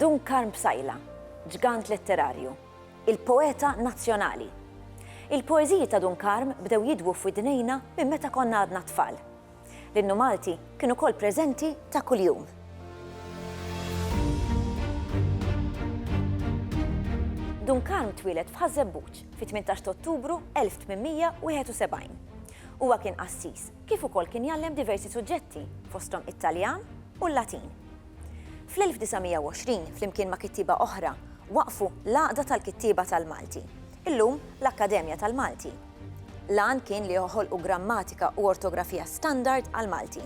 Dun Karm Bsajla, ġgant letterarju, il-poeta nazzjonali. Il-poeżiji ta' Dun Karm bdew jidwu f'widnejna minn meta konna għadna tfal. L-innu Malti kien ukoll preżenti ta' kuljum. Duncan twieled f'Ħaż-Żebbuġ fit-18 t'Ottubru 1871. Huwa kien qassis, kif ukoll kien jgħallem diversi suġġetti, fosthom it-Taljan u l-Latin. Fl-1920, flimkien ma' kittieba oħra, waqqfu l-Għaqda tal-Kittieba tal-Malti, illum l-Akkademja tal-Malti. L-għan kien li joħolqu grammatika u ortografija standard għall-Malti.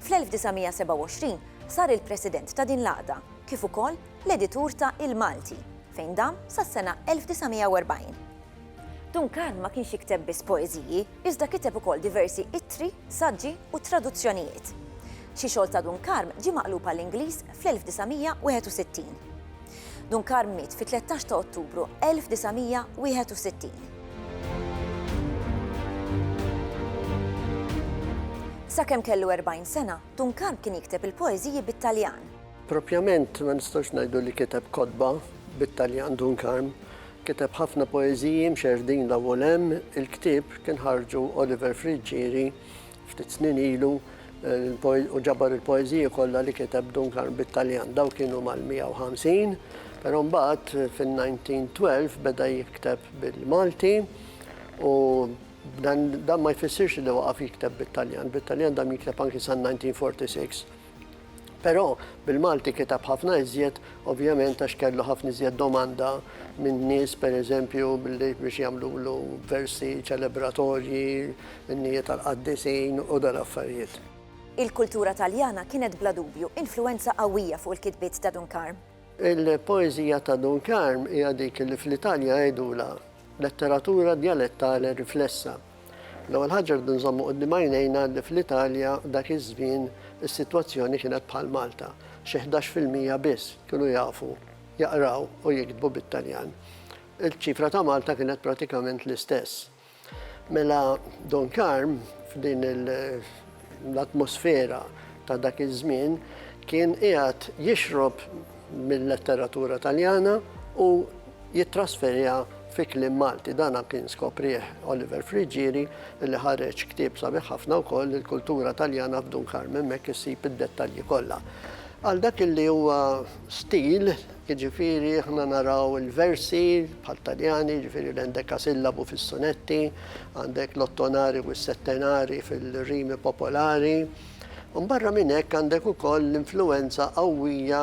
Fl-1927 sar il-President ta' din l-għaqda, kif ukoll l-editur ta' Il-Malti, fejn dam sas-sena 1940. Duncan ma kienx jikteb biss poeżiji, iżda kiteb ukoll diversi ittri, saġġi u traduzzjonijiet. Xi xogħol ta' Dun Karm ġie maqlub għall-Ingliż fl-1961. Dunkar miet fit-13 ta' Ottubru 1961. Sakemm kellu 40 sena, Dunkar kien jikteb il-poeżiji bit-Taljan. Proprjament ma nistgħux ngħidu li kiteb kotba bit-Taljan Dunkar. Kiteb ħafna poeżiji mxerrdin l-ewwel hemm il-ktieb kien ħarġu Oliver Friggieri Ftit snin ilu u ġabar il-poeżiji kollha li kiteb Duncan bit-Taljan. Dawk kienu mal-150, però mbagħad fin-1912 beda jikteb bil-Malti u dan ma jfissirx li waqaf jikteb bit-Taljan. Bit-Taljan dam jikteb anki san-1946. Però bil-Malti kiteb ħafna iżjed ovvjament għax kellu ħafna iżjed domanda minn nies pereżempju biex jagħmlulu versi ċelebratorji, innijiet tal-qaddisin u dan affarijiet. Il-kultura Taljana kienet bla dubju influwenza qawwija fuq il-kitbiet ta' Dun Karm. Il-poeżija ta' Dun Karm hija dik li fl-Italja jgħidulha letteratura djalettali riflessa, L-ewwel ħaġa rridu nżommu quddiem għajnejna li fl-Italja dak iż-żmien is-sitwazzjoni kienet bħal Malta, xi ħdax fil-mija biss kienu jafu jaqraw u jiktbu bit-Taljan. Il-ċifra ta' Malta kienet pratikament l-istess. Mela Dun Karm f'din il l-atmosfera ta' dak iż-żmien kien qiegħed jixrob mil-letteratura Taljana u jittrasferiha fi kliem Malti. Dan kien skoprih Oliver Friggieri li ħareġ ktieb sabiħ ħafna wkoll Il-Kultura Taljana f'Dun Karmen m'hekk issib id-dettalji kollha. Għal dak li huwa stil, Jiġifieri aħna naraw il-versi bħat-Taljani, jiġifieri l-endekasillabu fis-sunetti, għandek l-ottonari u s-settenari fil-rimi popolari. U barra minn hekk għandek ukoll l-influwenza qawwija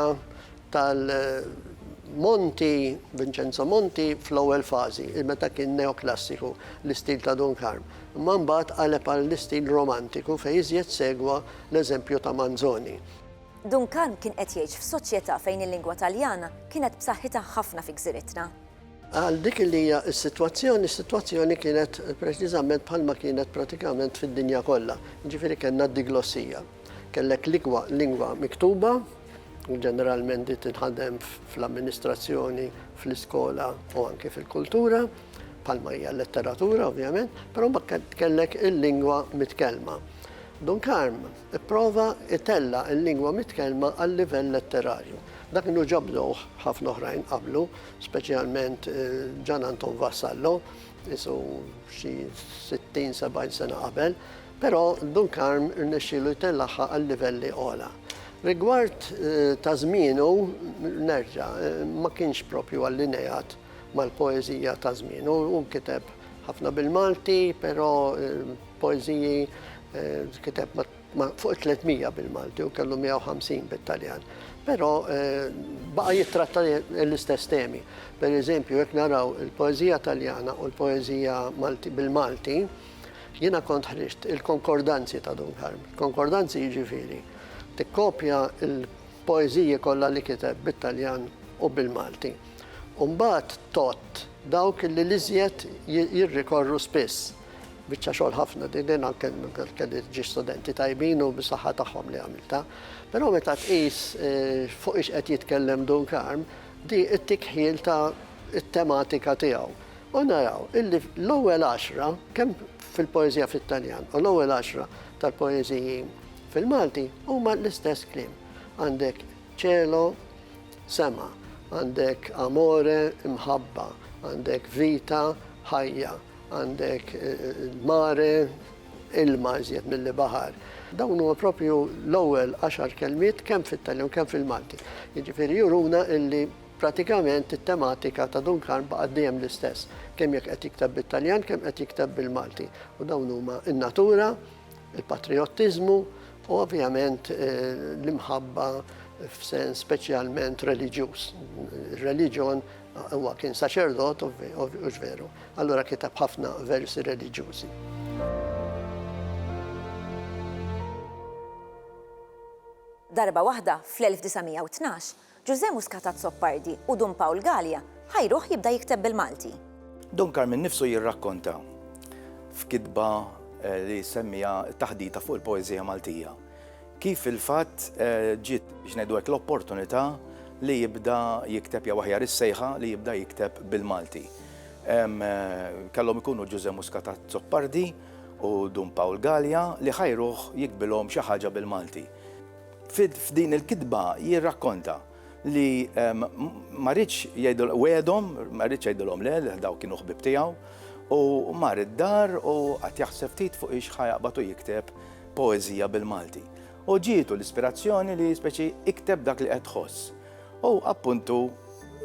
tal-Monti, Vincenzo Monti fl-ewwel fażi, meta kien neoklassiku, l-istil ta' Dun Karm. Imma mbagħad qaleb għall-istil romantiku fejn iżjed segwa l-eżempju ta' Manzoni. Duncan kien qed jgħix f'soċjetà fejn il-lingwa Taljana kienet b'saħħitha ħafna fi gżiritna. Għal dik li hija s-sitwazzjoni, is-sitwazzjoni kienet preċiżament bħalma kienet pratikament fid-dinja kollha, jiġifieri kellna d-diglossija. Kellek l-ikwa lingwa miktuba, u ġeneralment din tinħadem fl-amministrazzjoni, fl-iskola u anke fil-kultura, bħalma hija l-letteratura ovvjament, però mbagħad kellek il-lingwa mitkellma. Duncan Ipprova itella' il-lingwa mitkellma għal-livell letterarju. Dak kienu ġa bdewh ħafna oħrajn qablu, speċjalment Ġan Anton Vassallo, qisu xi sittin, sebgħin sena qabel, però Dun Karm rnexxielu jtellagħha għal livelli ogħla. Rigward ta' żmienu, nerġa', ma kienx proprju allineat mal-poeżija ta' żmienu. Hu kiteb ħafna bil-Malti, però Poeżiji kiteb fuq 300 bil-Malti u kellu 150 bit-Taljan. Però baqa' jittratta l-istess temi. Per eżempju, jekk naraw il-poeżija Taljana u l-poeżija bil-Malti, jiena kont ħriġt il-konkordanzi ta' Dunkarm. Konkordanzi jiġifieri tikkopja l-poeżiji kollha li kiteb bit-Taljan u bil-Malti. U mbagħad tgħodd dawk li l-iżjed jirrikorru spiss. Biċċa xogħol ħafna din li anke kelli ġiex studenti tajbin u bis-saħħa tagħhom li għamiltha. Però meta tqis fuq ix qed jitkellem Dun Karm, di ttik ħjiel ta' t-tematika tiegħu. U naraw illi l-ewwel għaxra, kemm fil-poeżija fit-Taljan u l-ewwel għaxra tal-poeżiji fil-Malti huma l-istess kliem. Għandek Cielo, sema, għandek Amore, imħabba, għandek Vita, ħajja. Għandek mare, ilma iżjed milli baħar. Dawn huma proprju l-ewwel għaxar kelmiet kemm fit-Taljan u kemm fil-Malti. Jiġifieri juruna illi pratikament it-tematika ta' Dun Karm baqgħet dejjem l-istess, kemm jekk qed jikteb bit-Taljan kemm qed jikteb bil-Malti. U dawn huma n-natura, il-patrijottiżmu u ovvjament l-imħabba f'sens speċjalment reliġjuż. Ir-reliġjon, huwa kien saċerdot, hux veru? allura kiteb ħafna versi reliġjużi. Darba waħda, fl-1912, Ġużè Muscat Azzopardi u Dun Pawl Galea ħajruh jibda jikteb bil-Malti. Dun Karminn nnifsu jirrakkonta f'kitba eh, li semmija taħdita fuq il-poeżija Maltija. Kif fil-fatt ġiet, biex ngħidu hekk, l-opportunità li jibda jikteb jew aħjar is-sejħa li jibda jikteb bil-Malti. Kellhom ikunu Ġużè Muscat Azzopardi u Dun Pawl Galea li ħajruh jiktbilhom xi ħaġa bil-Malti. F'din il-kitba jirrakkonta li ehm, ma rridx jgħidu wedhom, ma rridx jgħidulhom le, daw kienu ħbib tiegħu, u mar id-dar u qatt jaħseb ftit fuq ix ħajaqbad u jikteb poeżija bil-Malti. U ġietu l-ispirazzjoni li speċi ikteb dak li qed ħoss. U appuntu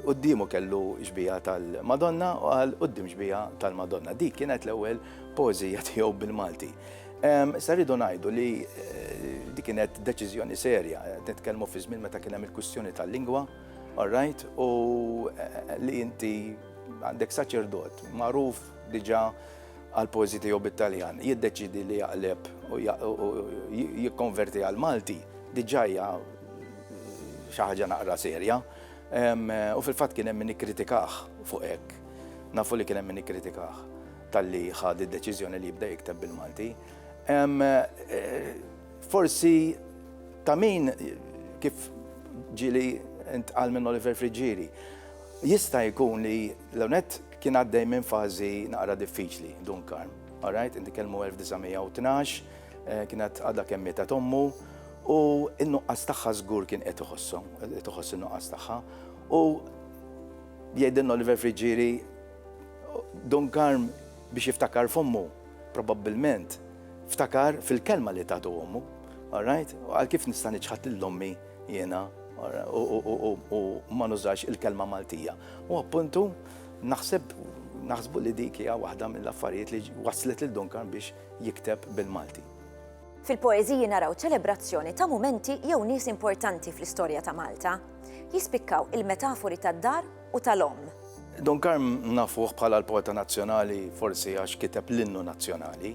qoddimu kellu xbija tal-Madonna u għal qoddim xbija tal-Madonna. Dik kienet l-ewwel poeżija tiegħu bil-Malti. Issa rridu ngħidu li di kienet deċiżjoni serja, nitkellmu fi żmien meta kien hemm il-kwistjoni tal-lingwa, alright, u li inti għandek saċerdot magħruf diġà għal pożi tiegħu bit-Taljan, jiddeċidi li jaqleb u jikkonverti għal Malti, diġà hija xi ħaġa naqra serja. U fil-fatt kien hemm min ikkritikah fuq hekk. Nafu li kien hemm min ikkritikah. Talli ħa d-deċiżjoni li jibda jikteb bil-Malti. Forsi ta' min kif ġili intqal minn Oliver Friggieri, jista' jkun li l-onet kien għaddej minn fażi naqra diffiċli Dun Karm. Alright, inti kelmu 1912, eh, kienet għadha kemm mietet ommu u n-nuqqas tagħha żgur kien qed iħossu, qed iħossu n-nuqqas tagħha. U jgħidilna Oliver Friġġieri Dun Karm biex jiftakar f'ommu, probabbilment ftakar fil-kelma li tatu ommu, alright? Għal kif nista' niċħad lil ommi jiena u ma nużax il-kelma Maltija. U appuntu naħseb naħsbu li dik hija waħda mill-affarijiet li waslet lil Dun Karm biex jikteb bil-Malti. Fil-poeżiji naraw ċelebrazzjoni ta' mumenti jew nies importanti fl-istorja ta' Malta. Jispikkaw il-metafori tad-dar u tal-omm. Dun Karm nafuh bħala l-poeta nazzjonali forsi għax kiteb l-innu nazzjonali.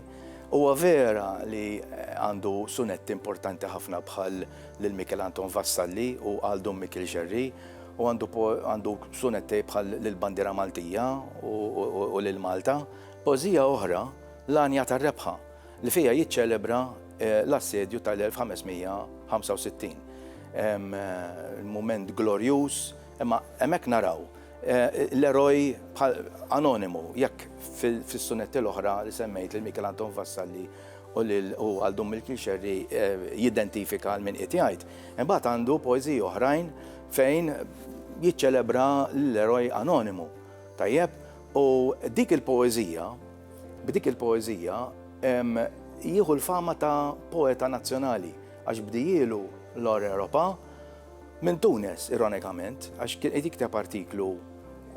Huwa vera li għandu sunetti importanti ħafna bħal lil Mikiel Anton Vassalli u Għal Dun Mikiel Xerri u għandu sunetti bħal lil Bandiera Maltija u lil Malta. Poeżija oħra, L-Għanja tar-Rebħa, li fiha jiċċelebra l-Assedju tal-1565. Mument glorjuż. Imma hemmhekk naraw l-eroj bħal anonimu, jekk fis-sunetti l-oħra li semmejt lil Michael Anton Vassalli u lil u għal Dun Mill-Kixerri jidentifika għal min qiegħed jgħid, imbagħad għandu poeżiji oħrajn fejn jiċċelebra l-eroj anonimu. Tajjeb? U dik il-poeżija, b'dik il-poeżija jieħu l-fama ta' poeta nazzjonali għax bdijielu l-Or Europa Minn Tunis, ironikament, għax kien qed jikteb artiklu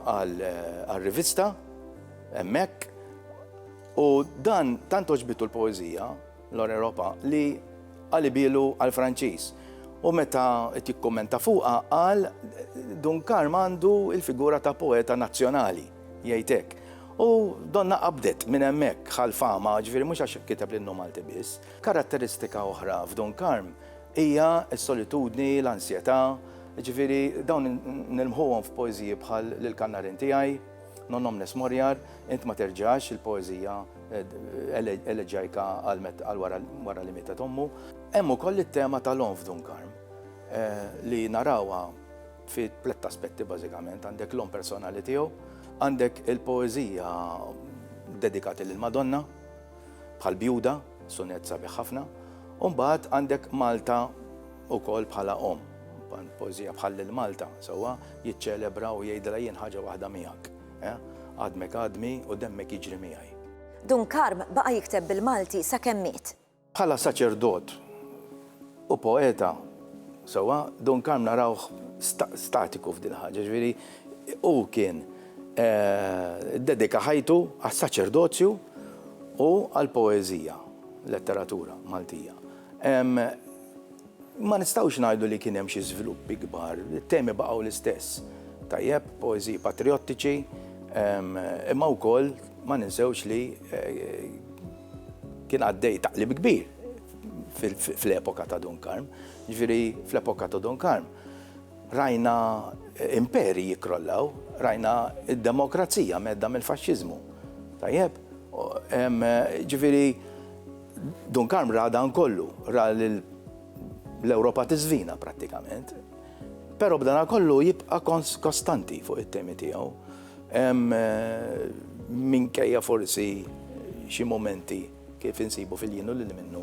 għal-rivista, emmek, u dan tant oġbitu l-poezija, l-Europa, li għalibilu għal-Franċiż. U meta qed jikkummenta fuqha qal Dun Karm għandu il-figura ta' poeta nazzjonali, jgħidek. U donna qabdet minn hemmhekk ħal fama, ġifieri mhux għax kiteb l-innu Malti biss. Karatteristika oħra f'Dun Karm Hija s-solitudni, l-ansjetà, jiġifieri dawn nilmħuhom f'poeżiji bħal Lil Kannarin tiegħi, Non omnes moriar, Int ma terġax, il-poeżija eleġajka għal wara li mietet ommu. Hemm ukoll it-tema tal-għonf Dun Karm li narawha fi tlett aspetti bażikament, għandek l-għonf personali tiegħu, għandek il-poeżija dedikati lill-Madonna, Bħal Bjuda, sunett sabiħ ħafna, u mbagħad għandek Malta wkoll bħala omm. Poeżija bħal lil Malta, sewwa jiċċelebra u jgħidilha jien ħaġa waħda miegħek. Eh? Għadmek għadmi u demmek jiġri miegħi. Dun Karm baqa' jikteb bil-Malti sakemm miet. Bħala saċerdot u poeta sewwa, Dun Karm narawh statiku f'din il-ħaġa, jiġifieri hu kien iddedika ħajtu għas-saċerdozju u għall-poeżija, letteratura Maltija. Ma nistgħux ngħidu li kien hemm xi żviluppi kbar, it-temi baqgħu l-istess, tajjeb, poeżiji patrijottiċi, imma wkoll ma ninsewx li kien għaddej taqlib kbir. fl-epoka ta' Dun Karm. Ġifieri fl-epoka ta' Dun Karm rajna imperi jikrollaw, rajna id-demokrazija medda mill-faxxiżmu. Tajjeb, ġifieri Dun Karm ra dan kollu, ra l-Ewropa tiżvina prattikament. Però b'dana kollu jibqa' kostanti fuq it-temi tiegħu. Minkejja forsi xi momenti kif insibu fil-jien u lil minnu,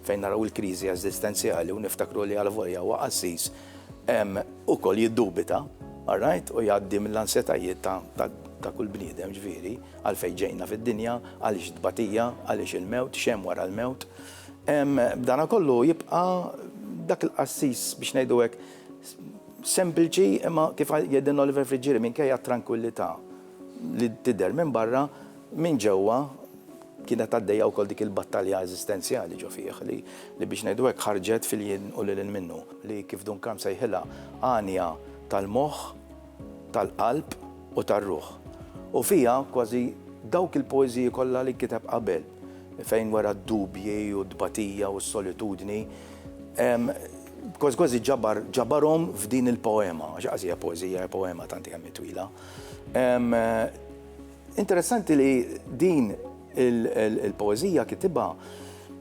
fejn naraw il-kriżi eżistenzjali u niftakru li alvolja huwa qassis, ukoll jiddubita, alright, u jgħaddi mill-ansjetajiet ta' kull bniedem, ġifieri, għalfejn ġejna fid-dinja, għaliex t-tbatija, għaliex il-mewt, x'hemm wara l-mewt. B'dana kollu jibqa' dak il-qassis, biex ngħidu hekk, sempliċi imma kif jgħidilna Oliver Friggieri minkejja t-trankwillità, li tidher minn barra, minn ġewwa kienet għaddejja wkoll dik il-battalja eżistenzjali ġo fih li li biex ngħidu hekk ħarġet fil-jien u lil hinn minnu. Li kif Duncan sejħilha għanja tal-moħħ, tal-qalb u tar-ruħ. U fiha kważi dawk il-poeżiji kollha li kiteb qabel fejn wera d-dubji u t-tbatija u s-solitudni kważi kważi ġabar ġabarhom f'din il-poema, għax qas hija poeżija hija poema tant hi kemm hi twila. Interessanti li din il-poezija kitibha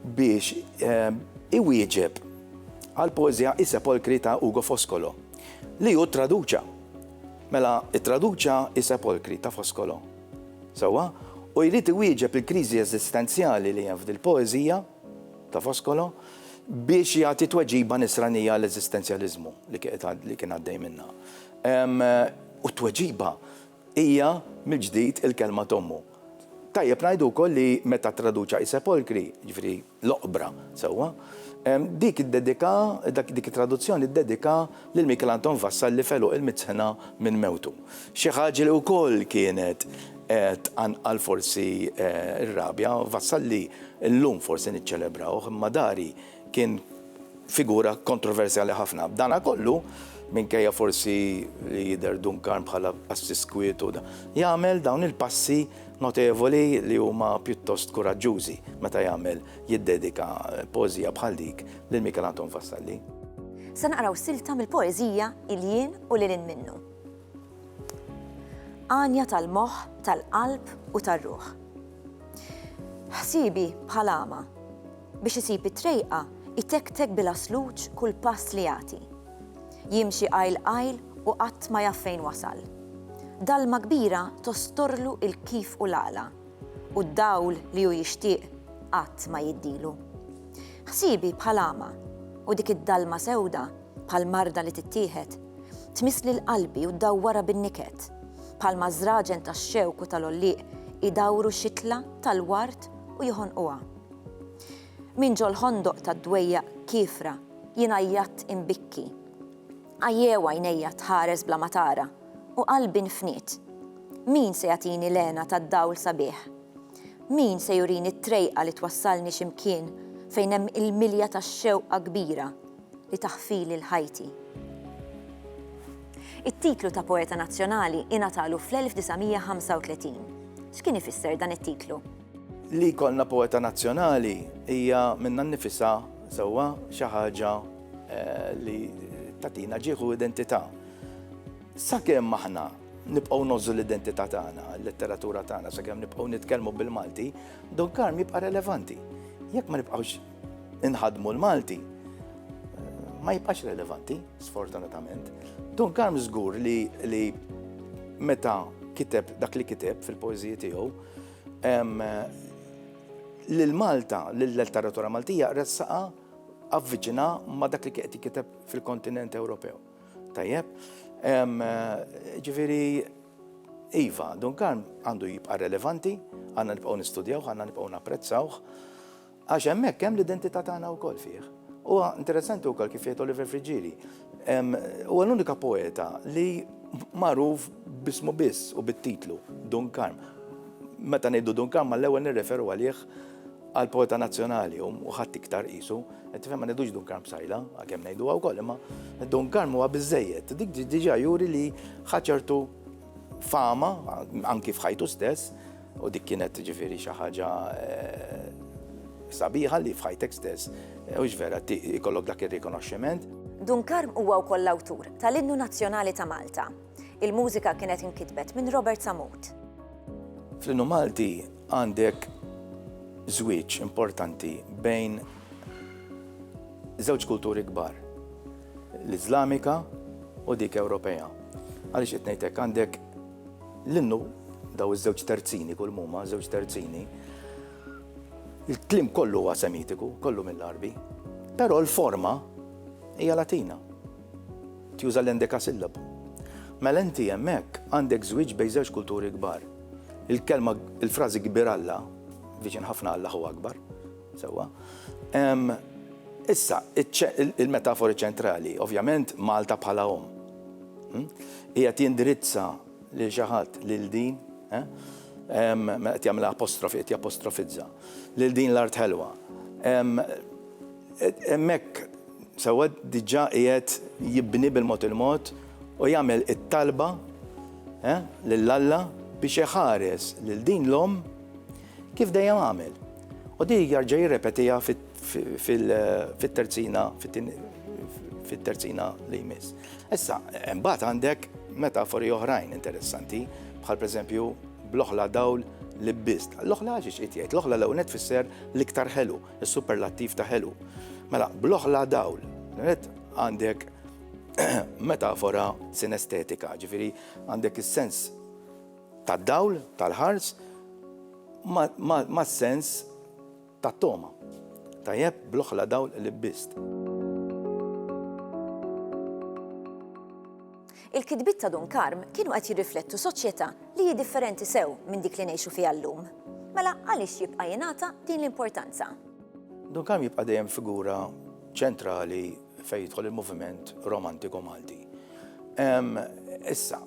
biex iwieġeb għal poezija I Sepolkri ta' Ugo Foscolo, li hu traduċa. Mela, it-traduċa I Sepolkri ta' Foscolo. Sewwa, u jrid iwieġeb il-kriżi eżistenzjali li hemm f'dil-poezija ta' Foscolo biex jagħti tweġiba nisranija għall-eżistenzjaliżmu li kien għaddej minnha. U t-tweġiba hija mill-ġdid il-kelma t'ommu. Tajjeb ngħidu wkoll li meta ttraduċa i sepolkri, jiġifieri l-oqbra, sewwa, dik iddedika, dik it-traduzzjoni ddedika lil Michael Anton Vassalli f'għeluq il-Mizzħna minn mewtu. Xi ħaġa li wkoll kienet tqanqal forsi r-rabja, Vassalli llum forsi niċċelebrawh, imma dari kien figura kontroversjali ħafna. B'dana kollu, minkejja forsi li jidher Duncan bħala qassis kwiet u jagħmel dawn il-passi notevoli li huma pjuttost kuraġġużi meta jagħmel jiddedika poeżija bħal dik lil Michael Anton Vassalli. Se naqraw silta mill-poeżija Il-jien u lil hinn minnu. Għanja tal-moħħ, tal-qalb u tar-ruħ. Ħsiebi bħal għama, Biex isib it-trejqa, itektek bil-għasluġ kull pass li jagħti. Jimxi qajl qajl u qatt ma jaf fejn wasal. Dalma kbira tostorlu l-kif u l-għala, u d-dawl li hu jixtieq qatt ma jiddilu. Ħsiebi bħal għama, u dik id-dalma sewda, bħal marda li tittieħed, tmiss lil qalbi u ddawwarha bin-niket, bħalma ż-żraġen tax-xewk u tal-għollieq idawru xitla tal-ward u jħonquha. Minn ġol-ħondoq tad-dwejjaq kiefra jien għajjatt inbikki. Għajjew għajnejja tħares bla ma tara u qalbi nfniet. Min se jagħtini l-hena tad-dawl sabiħ? Min se jurini t-trejqa li twassalni xi mkien fejn hemm il-milja ta' xewqa kbira li taħfili l-ħajti? It-titlu ta' Poeta Nazzjonali ingħatalu fl-1935. X'kien ifisser dan it-titlu? Li jkollna poeta nazzjonali hija minnha nnifisha sewwa xi ħaġa eh, li tatina ġieħu identità. Sakemm aħna nibqgħu nożu l-identità tagħna, l-letteratura tagħna, sakemm nibqgħu nitkellmu bil-Malti, Don Karm jibqa' relevanti. Jekk ma nibqgħux inħadmu l-Malti, ma jibqax relevanti, sfortunatament. Don Karm żgur li, li meta kiteb dak li kiteb fil-poeżiji tiegħu, Lil Malta, lil letteratura Maltija, ressaqa avviċina ma dak li qed kiteb fil-kontinent Ewropew. Tajjeb, ġifiri, Iva, Dunkarm għandu jibqa' relevanti, għandna nibqgħu nistudjaw, għandna nibqgħu napprezzawh. Għax hemmhekk hemm l-identità tagħna wkoll fih. Huwa interessanti wkoll kif jgħid Oliver Frigili, huwa l-unika poeta li magħruf b'ismu biss u bit-titlu, Dun Karm. Meta ngħidu Dun Karm mal-ewwel nirreferu għalih għal poeta nazzjonali u ħadd iktar qisu. Qed tifhem ma ngħidux Dun Karm Bsajla, għalkemm ngħiduha wkoll, imma Dun Karm huwa biżejjed. Dik diġà juri li ħa ċertu fama anki f'ħajtu stess U dik kienet ġifieri xi ħaġa sabiħa li f'ħajtek stess, hux vera ikollok dak ir-rikonoxximent. Dun Karm huwa wkoll l-awtur tal-Innu Nazzjonali ta' Malta. Il-mużika kienet inkitbet minn Robert Sammut. Fl-Innu Malti għandek żwieġ importanti bejn żewġ kulturi kbar, l-Iżlamika u dik Ewropea. Għaliex qed ngħidlek għandek L-innu, daw iż-żewġ terzini kull muma, żewġ terzini, il-klim kollu huwa semitiku, kollu mill-arbi, però l-forma hija latina. Tjuża l-endeka sillabu. Mela inti hemmhekk għandek żwieġ bejn żewġ kulturi kbar. Il-kelma il-frażi kbir Alla, viċin ħafna Alla hu akbar, sewwa. Issa, il-metafori ċentrali, ovvjament Malta bħala om. Qiegħed jindirizza lil xi ħadd lil din, qed jagħmilha apostrofi, qed japostrofizza, lil din l-art ħelwa. Hemmhekk sewwa diġà qiegħed jibni bil-mod il-mod u jagħmel it-talba lil Alla biex iħares lil din l-omm kif dejjem għamel. U din jarġa' jirrepetiha fit fit-terzina fit-terzina li jmiss. Issa, mbagħad għandek metafori oħrajn interessanti, bħal pereżempju bl-oħla dawl li bist. L-oħla ġiex qed jgħid, l-oħla l ewnet fisser l-iktar ħelu, is-superlattiv ta' ħelu. Mela, bl-oħla dawl, għandek metafora sinestetika, ġifiri għandek is-sens tad-dawl, tal-ħars, ma' sens Tat-togħma. Tajjeb, bl-oħla dawl li lbist. Il-kitbiet ta' Dun Karm kienu qed jirriflettu soċjetà li hi differenti sew minn dik li ngħixu fiha llum. Mela għaliex jibqa' jingħata din l-importanza? Dun Karm jibqa' dejjem figura ċentrali fejn jidħol il-moviment romantiku Malti. Issa.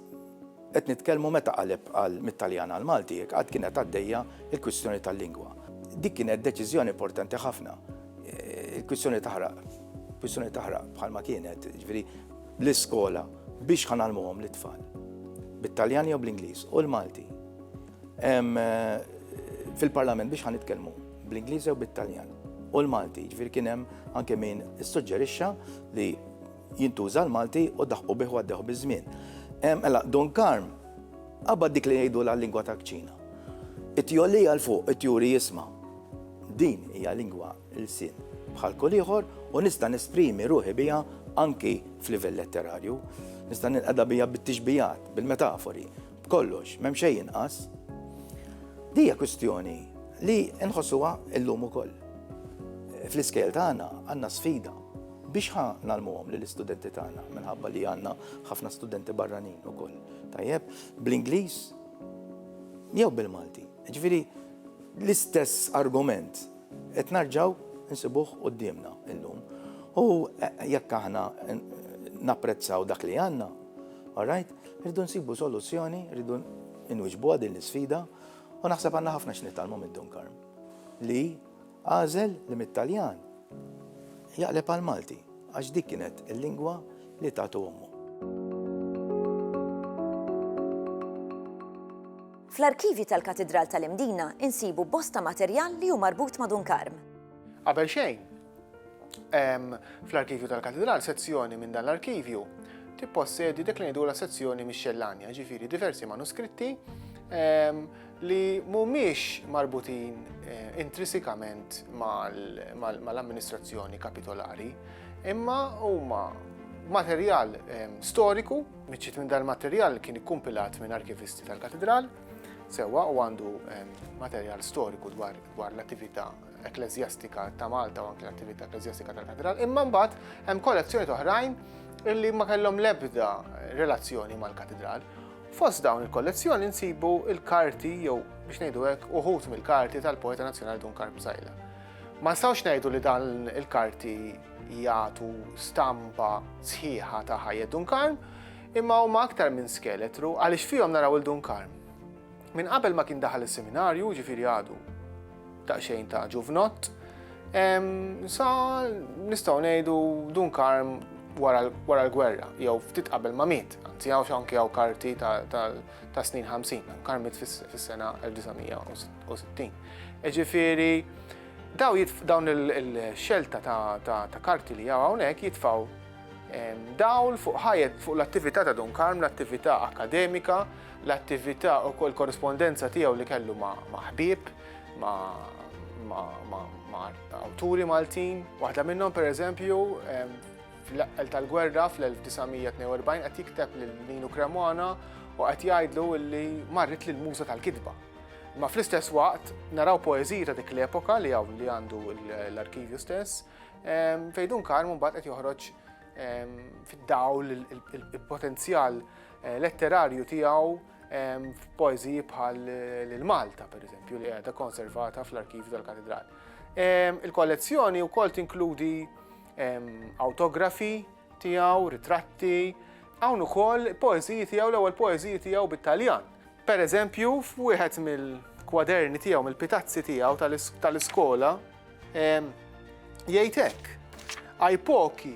Qed nitkellmu meta qaleb għal mit-Taljan għall-Malti jekk qatt kienet għaddejja l-kwistjoni tal-lingwa. Dik kienet deċiżjoni importanti ħafna. Il-kwistjoni taħraq, kwistjoni taħraq bħalma kienet, ġifieri l-iskola biex ħanalmuhom lit-tfal bit-Taljan jew bl-Ingliż u l-Malti. Fil-Parlament biex ħanitkellmu bl-Ingliż jew bit-Taljan u l-Malti, ġifieri kien hemm anke min issuġġerixxa li jintuża l-Malti u daħqu bih u għaddew biż-żmien. Mela, Don Karm, qabad dik li jgħidu la lingwa ta' kċina. It-tjolli għal fuq, it-tjuri jisma. Din hija lingwa l-sin bħal kull ieħor u nista' nesprimi ruħi biha anki f'livell letterarju. Nista' nilqada biha bit-tixbijat, bil-metafori, b'kollox, m'hemm xejn inqas. Dija kwistjoni li nħossuha illum ukoll. Fl-iskejl tagħna għandna sfida Biex ħa nagħlmuhom lill-istudenti tagħna minħabba li għandna ħafna studenti barranin ukoll. Tajjeb, bl-Ingliż jew bil-Malti. Ġifieri l-istess argument qed narġaw insibuh qudiemna illum. U jekk aħna napprezzaw dak li għandna, all right, rridu nsibu soluzzjoni, rridu inwiġbuha din l-isfida u naħseb għandna ħafna x'nitalmu minn Dunkarm li Għażel li mit-Taljan jaqleb għall-Malti għax dik kienet il-lingwa li tatu ommu. Fl-arkivji tal-Katidral tal-Imdina insibu bosta materjal li hu marbut ma' Dunkarm. Qabel xejn, hemm fl-arkivju tal-Katidral sezzjoni minn dan l-arkivju tippossedi dik li ngħidulha sezzjoni mix-xellanja, ġifieri diversi manuskritti li mhumiex marbutin intrisikament mal-amministrazzjoni kapitolari, imma huma materjal storiku, miċċiet minn dal-materjal kien ikkumpilat minn arkivisti tal-Katidral, sewwa u għandu materjal storiku dwar l-attività ekkleżjastika ta' Malta u anke l-attività ekkleżjastika tal-Katidral, imma mbagħad hemm kollezzjonijiet oħrajn li ma kellhom l-ebda relazzjoni mal-Katidral. Fost dawn il-kollezzjoni nsibu il-karti jew biex ngħidu hekk uħud mill-karti tal-poeta nazzjonali Dun Karm Bżajla. Ma nistgħux ngħidu li dan il-karti jagħtu stampa sħiħa ta' ħajja Dun Karm, imma huma aktar minn skeletru għaliex fihom naraw il Dun Karm. Minn qabel ma kien daħal is-seminarju, ġifieri għadu Daqsxejn ta' ġuvnott. Sa nistgħu ngħidu Dun Karm wara l-gwerra, jew ftit qabel ma miet, anzi hawn x'anki hawn karti ta' snin 50, Karm miet fis-sena 1960. Ġifieri, dawn il-xelta ta' karti li hawn hawnhekk jitfgħu dawl fuq ħajjet fuq l-attività ta' Dun Karm, l-attività akkademika, l-attività u kol korrispondenza tiegħu li kellu ma' ħbieb, ma' awturi Maltin. Waħda minnhom pereżempju fl-eqqel tal-gwerra fl-1942 qed jikteb lil Ninu Cremona u qed jgħidlu li marret lil muża tal-kitba. Ma fl-istess waqt naraw poeżiji ta' dik l-epoka li hawn li għandu l-arkivju stess, Fejdun Karm mbagħad qed joħroġ fid-dawl il-potenzjal letterarju tiegħu f'poeżiji bħal lil Malta, pereżempju, li qiegħda konservata fl-arkivju tal-katedral. Il-kollezzjoni wkoll tinkludi autografi tiegħu, ritratti, hawn ukoll poeżiji tiegħu l-ewwel poeżiji tiegħu bit-Taljan. Pereżempju, f'wieħed mill-kwaderni tiegħu, mill-pitazzi tiegħu tal-iskola, Jgħid hekk, ai pochi,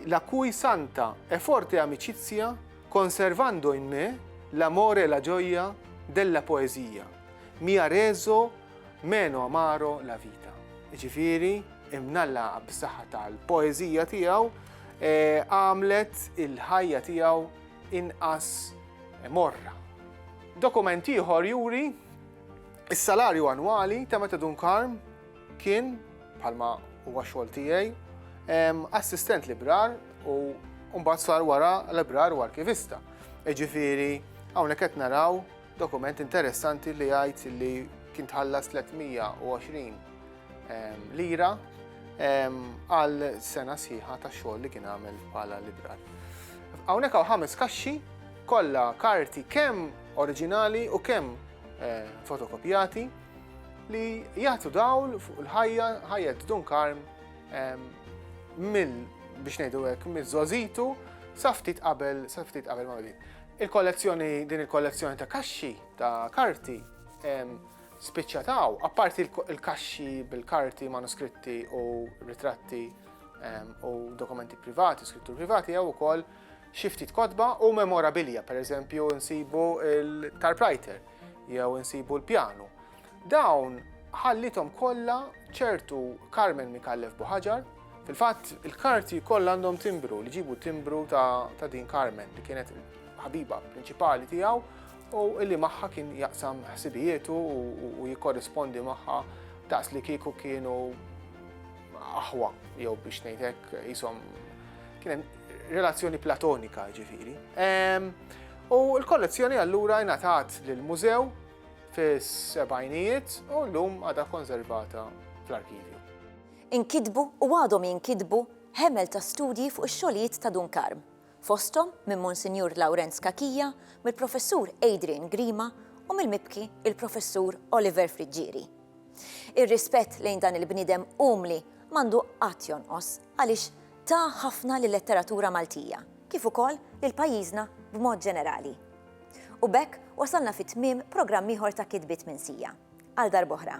la cui santa e forte amicizia conservando in me l'amore e la gioia della poesia mi ha reso meno amaro la vita. Ġifieri, imnalla b'saħħa tal-poeżija tiegħu eh, għamlet il-ħajja tiegħu inqas morra. Dokument ieħor juri Is-salarju annwali ta' Meta Dunkarm kien, bħalma huwa xogħol tiegħi, assistent librar u mbagħad sar wara librar u arkivista. Iġifieri hawnhekk qed naraw dokument interessanti li jgħid li kien tħallas 320 lira għal sena sħiħa ta' xogħol li kien għamel bħala librar. Hawnhekk hawn ħames kaxxi kollha karti kemm oriġinali u kemm fotokopjati li jagħtu dawl fuq il-ħajja ħajja Dun Karm mill biex ngħidu hekk miż-żożitu sa ftit qabel sa ftit qabel ma bdiet. Il-kollezzjoni din il-kollezzjoni ta' kaxxi ta' karti spiċċataw, apparti il-kaxxi bil-karti, manuskritti u ritratti u dokumenti privati, skrittur privati jew ukoll Xi ftit kotba u memorabilja, pereżempju nsibu l-tarprajter jew insibu l-pjanu. Dawn ħallithom kollha ċertu Carmen Mikallef Buħaġar. Fil-fatt, il-karti kollha għandhom timbru, li ġibu timbru ta' din Carmen, li kienet ħabiba prinċipali tiegħu u illi magħha kien jaqsam ħsibijietu u jikorrispondi magħha daqs li kieku kienu aħwa jew biex ngħidlek jisom kien relazzjoni platonika jiġifieri. U l-kollezzjoni allura ingħatat lill-mużew fis-sebgħinijiet u llum għadha konservata fl-arkivju. Inkitbu u għadhom jinkitbu ħemel ta' studji fuq ix-xogħlijiet ta' Dun Karm, fosthom minn Monsinjur Lawrenz Cachia, mill-Professur Adrian Grima u mill-mibki il-Professur Oliver Friggieri. Ir-rispett lejn dan il-bniedem umli m'għandu qatt jonqos għaliex Ta ħafna lil-letteratura Maltija, kif ukoll lil pajjiżna b'mod ġenerali. U b'hekk wasalna fi tmiem programm ieħor ta' Kitbiet minn Sija. Għal darb'oħra.